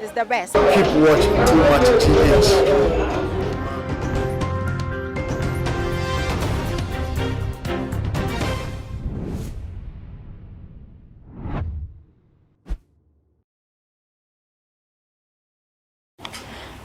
is the best. Keep watch too much th.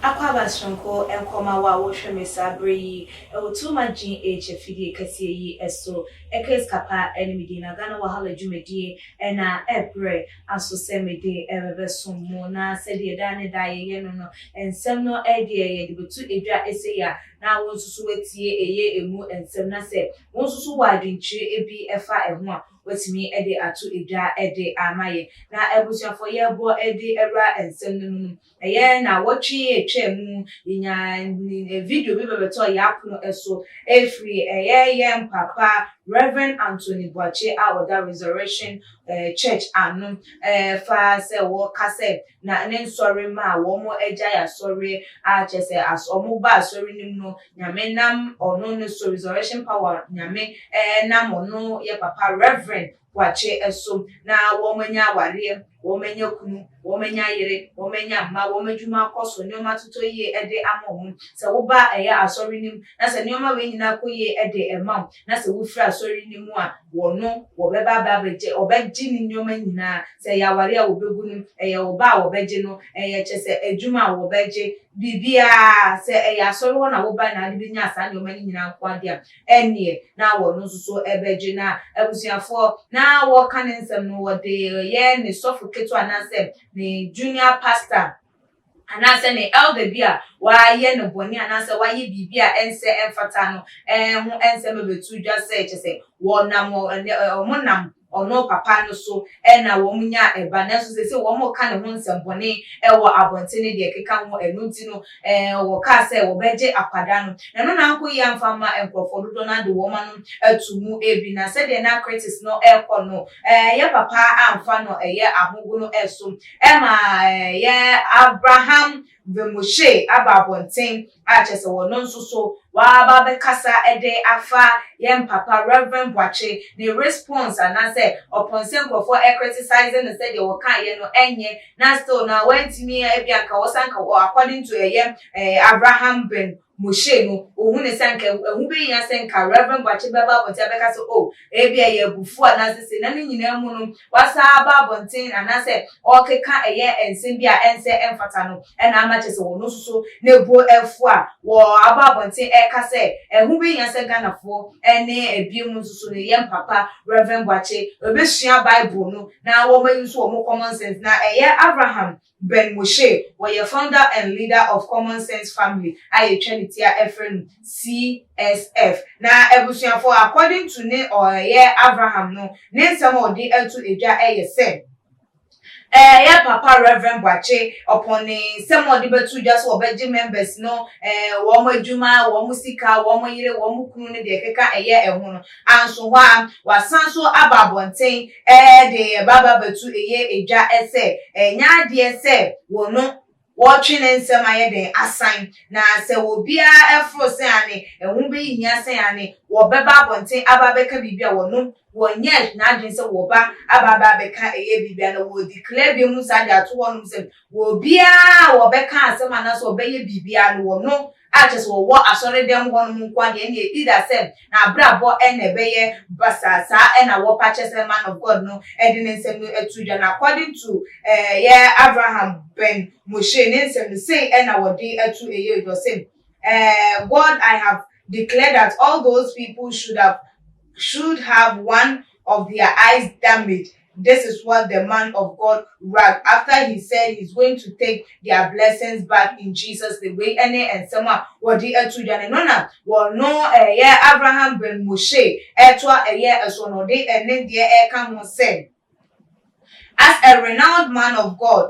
Akwaaba soronko nkɔma wo a wohwɛ me saa bere yi wɔ Too Much GH afidie kɛseɛ yi so. Case Kappa ne me din na Ghana Wahala dwumadie na ɛbrɛ. aso sɛ mede rebɛsom mo, na sɛdeɛ daa ne daa yɛyɛ no no, nsɛm no deɛ yɛde bɛto edwa sei a, na wo nso so woatie ɛyɛ ɛmu nsɛm, na sɛ wo nso so wɔ adwenkyerɛ bi fa ɛho a, woatumi de ato edwa de ama yɛn. Na abusuafoɔ yɛrebɔ de awura nsɛm no mu no, Bɛyɛ naawɔtwe atwa mu, yenyaa video bi bɛbɛtɔɔ yɛn apono so firi ɛyɛ yɛn papa Rev. Anthony Boakye a ɔda Resurrection Church ano fa sɛ wɔka sɛ na ne nsɔre ma wɔagyae asɔre a kyerɛ sɛ wɔba asɔre no mu no Nyame nam ɔno no so Resurrection Power Nyame nam ɔno yɛn papa Rev. wɔakye so, na wɔanya awareɛ, wɔanya kunu, wɔanya yere, wɔanya mma, wɔn adwuma akɔ so, nneɛma atotɔ yie de ama wɔn. Sɛ woba a ɛyɛ Asɔre no mu, na sɛ nneɛma wei nyinaa kɔ yie de ma wo, na sɛ wofiri Asɔre no mu a, wɔno, wɔbɛba aba abɛgye, wɔbɛgye ne nneɛma nyinaa. Sɛ ɛyɛ awareɛ a wɔbɛgu no, ɛyɛ wo ba a wɔbɛgye no, ɛyɛ kyerɛ sɛ adwuma a wɔbɛgye, biribiara, sɛ ɛyɛ Asɔre hɔ na wobae na wode bɛnyaa saa nneɛma no nyinaa nko ara deɛ a, Ɛnneɛ, na wɔn nso so bɛgye n'abusuafoɔ na wɔka ne nsɛm no, wɔde yɛ ne sɔfo ketewa anaasɛ ne junior pastor, anaasɛ ne elder bi a wayɛ no bɔne anaasɛ wayɛ biribi a ɛnsɛ ɛmfata no ho nsɛm abɛto dwa sɛ, kyerɛ sɛ, wɔnam wɔn nam Ɔno papa no so na wɔn nyaa ɛba nanso seesei wɔn reka ne ho nsɛmbɔne wɔ abɔnten ne deɛ ɛkeka ho, ɛno nti no wɔkaa sɛ wɔbɛgye akwadaa no. Na ɛno na ankɔ yie amfa amma nkorɔfoɔ dodoɔ no ara de wɔn anom ato mu bi na sɛdeɛ na critics no rekɔ no yɛ papa amfa no yɛ ahogono so ma yɛ Abraham Vemoshe aba abɔnten a kyerɛ sɛ ɔno nso so waba abɛkasa de afa yɛn papa Rev. Boakye ne response anaasɛ ɔpon sɛ nkurɔfoɔ criticize no sɛ deɛ wɔkaeɛ no ɛnyɛ na still na wantumi a ebia nka ɔsan ka according to ɛyɛ Abraham bin Moshe no, ohuu no sɛ anka ɛho behia sɛ anka Rev. Boakye bɛba abɔnten abɛka sɛ, Oh, ebia ɛyɛ abufuw anaasɛ sei. Na ne nyinaa mu no, wasan aba abɔnten anaasɛ ɔrekeka ɛyɛ nsɛm bi a ɛnsɛ ɛmfata no na ama kyerɛ sɛ ɔno nso so ne bo afu a waba abɔnten reka sɛ ɛho behia sɛ Ghanafoɔ ne ebinom nso so no yɛn papa Rev. Boakye bɛsua Bible no na wɔayi nso wɔn common sense. Na ɛyɛ Abraham Ben Moshe, ɔyɛ founder and leader of Common Sense Family a yɛtwa ne ti a ɛfrɛ no CSF. Na abusuafo according to ne ɔyɛ Avraham no ne nsɛm a ɔde ato adwa yɛ sɛ, ɔyɛ Papa Rev. Boakye ɔpɔn ne nsɛm a ɔde bɛto dwa sɛ ɔbɛgye members no wɔn adwuma, wɔn sika, wɔn yere, wɔn kunu ne deɛ ɛkeka ɛyɛ ɛho no anso hɔ ara, wasan nso aba abɔnten. Ɛɛde ba babatu ɛyɛ ɛdwa ɛsɛ ɛnyɛ adeɛ sɛ wɔno wɔtwe ne nsɛm ayɛ dɛn asan na sɛ wɔbiara ɛforo sɛ ane ɛho bɛ hia sɛ ane wɔbɛba abɔnten aba abɛka biribi a wɔno wɔnyɛ n'adwene sɛ wɔba aba aba abɛka ɛyɛ biribi a na wɔɔ declare bia mu saa de ato hɔnom sɛ wɔbiara a wɔbɛka asɛm anaa sɛ wɔbɛyɛ biribi a no wɔno a kyerɛ sɛ wɔwɔ asɔredɛm hɔ nom nkoa deɛ ɛnneɛ ɛdi da sɛ n'abrabɔ na ɛbɛyɛ basaa saa na wɔpa kyɛ sɛ man of God no de ne nsɛm no to dwa no according to yɛ Avraham Ben Moshe ne nsɛm no sei na wɔde ato ɛyɛ dwa sɛ God I have declared that all those people should have should have one of their eyes damaged This is what the man of God wrag after he said he is going to take their blessings back in Jesus name wei ɛne nsɛm a wɔde ato dwa no ɛno na wɔno ɛyɛ Abraham ben Moshe ɛtoa ɛyɛ ɛso na ɔde ɛne deɛ ɛka ho sɛ as a renowned man of God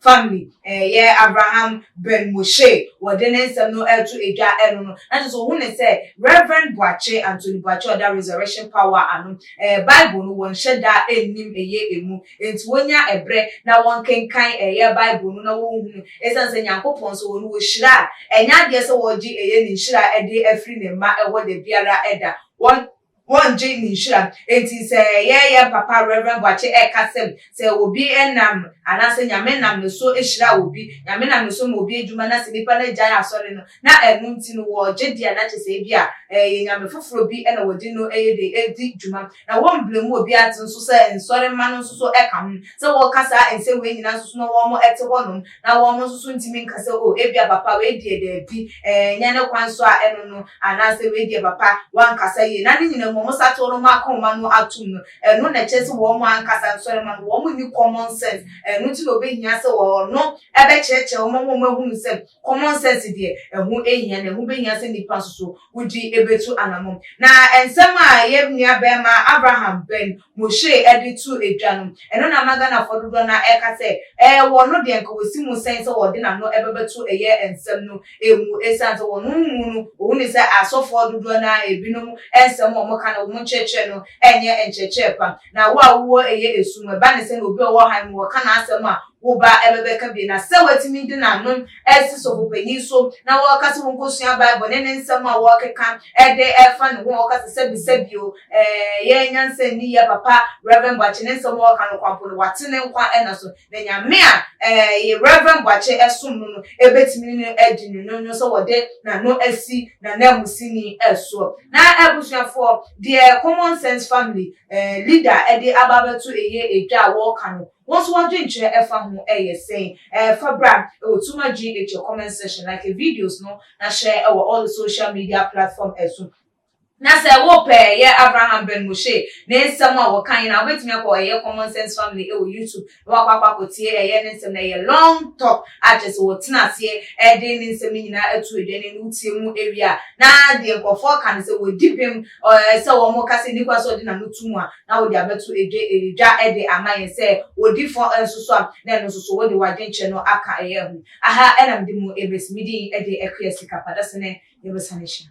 Family eh yɛ Abraham Ben Moshe wɔde ne nsɛm no reto edwa ɛno no na kyerɛ sɛ ɔhu no sɛ Rev Boakye Anthony Boakye ɔda Resurrection Power ano eh Bible no wɔnhyɛ da nnim ɛyɛ ɛmu enti wɔnya ɛbrɛ na wɔnkenkan ɛyɛ Bible no na wɔnhunu ɛsiane sɛ Nyankopɔn nso ɔno ɔhyira a ɛnyɛ adeɛ sɛ ɔregye ɛyɛ ne nhyira de afiri ne mma ɛhɔ dabiara ɛda wɔn wɔngye ne nhyira. Enti sɛ yɛn yɛn papa Rev. Boakye ɛka sɛm, sɛ obi nam anaasɛ Nyame nam ne so hyira obi, Nyame nam ne so ma obi adwuma na sɛ nipa no gyae asɔre no na ɛno nti no wɔgye di a na kyerɛ sɛ ebi a ɛyɛ Nyame foforɔ bi na wɔde no ɛyɛ dɛn ɛredi dwuma na wɔmbrɛ mu obi ase nso sɛ nsɔre mma no nso so ɛka ho sɛ wɔka saa nsɛm wei nyinaa nso so na wɔn ɛte hɔ nom na wɔn nso so ntumi nka sɛ, o, ebia papa wei deɛ daabi, ɛɛ, ɛnyɛ ne kwan so a ɛno no, anaasɛ wei deɛ papa wankasa yie. Na ne nyinaa mu, wɔn satew no, wɔn akoma no atom no, ɛno na ɛkyerɛ sɛ wɔn ankasa nso ɛma no, wɔn nni common sense. Ɛno nti na obehia sɛ ɔno bɛkyerɛkyerɛ wɔn ma wɔahunu sɛ common sense deɛ, ɛho hia, na ɛho behia sɛ nnipa nso so wogye betu anamɔn. Na nsɛm a yɛn nuabarima Abraham Ben Moshei de to dwa no, ɛno na ama Ghanafoɔ dodoɔ no ara ɛreka sɛ ɛɛ wɔn no deɛ nka wɔsi mu sɛn sɛ wɔde n'ano bɛbɛto ɛyɛ nsɛm no mu ɛsiane sɛ wɔn mu no wɔhu no sɛ asɔfoɔ dodoɔ no ara binom nsɛm a wɔka no wɔn nkyerɛkyerɛ no nyɛ nkyerɛkyerɛ pa. Na wo a wowɔ ɛyɛ esu mu, ɛba ne sɛ na obi a ɔwɔ ɔhan mu ɔka n'asɛm a wo ba ɛbɛbɛka bi, na sɛ watumi de n'ano asi sɔfopanyin so na ɔka sɛ wonkosua Bible ne ne nsɛm a ɔkeka de fa ne ho a ɔka sɛ sɛbi sɛbi o, ɛɛ yɛn nyansa nni yɛ papa Rev. Boakye ne nsɛm a ɔka no kwampo no, wate ne nkwa nna so. Na Nyame a ɛɛ Rev. Boakye ɛsom no no ɛbɛtumi no adi no nwono sɛ wɔde n'ano asi n'ananmusini soɔ. Na abusuafoɔ, deɛ Common Sense Family ɛɛ leader ɛde aba abɛto ɛyɛ ɛdwa a wɔɔka no, wo nso w'adwenkyerɛ ɛfa ho ɛyɛ sɛn? Ɛɛ fa bra ɛwɔ Tuma GH comment section, like videos no na share ɛwɔ all the social media platform ɛso. Na sɛ wo pɛ yɛ Abraham Ben Moshe ne nsɛm a wɔka nyinaa wobɛtumi akɔ ɛyɛ Common Sense Family ɛwɔ YouTube na wakɔ akɔ akɔ tie ɛyɛ ne nsɛm no ɛyɛ long talk a kyerɛ sɛ wɔtena aseɛ ɛde ne nsɛm no nyinaa atu adwa ne no wotie mu ɛwie a na deɛ nkorɔfoɔ ka no sɛ wɔdi bem ɛɛ sɛ wɔn ka sɛ nni kwan sɛ wɔde n'ano to mu a na wode abɛto ɛdwa ɛdwa ɛde ama yɛn sɛ wɔdi fɔ nso so a na ɛno nso so wode w'adwenkyerɛ no aka ɛyɛ ho aha ɛna mede mu ɛbɛsi me din ɛde ɛkoyɛ sika padasene yɛbɛsane hyɛ.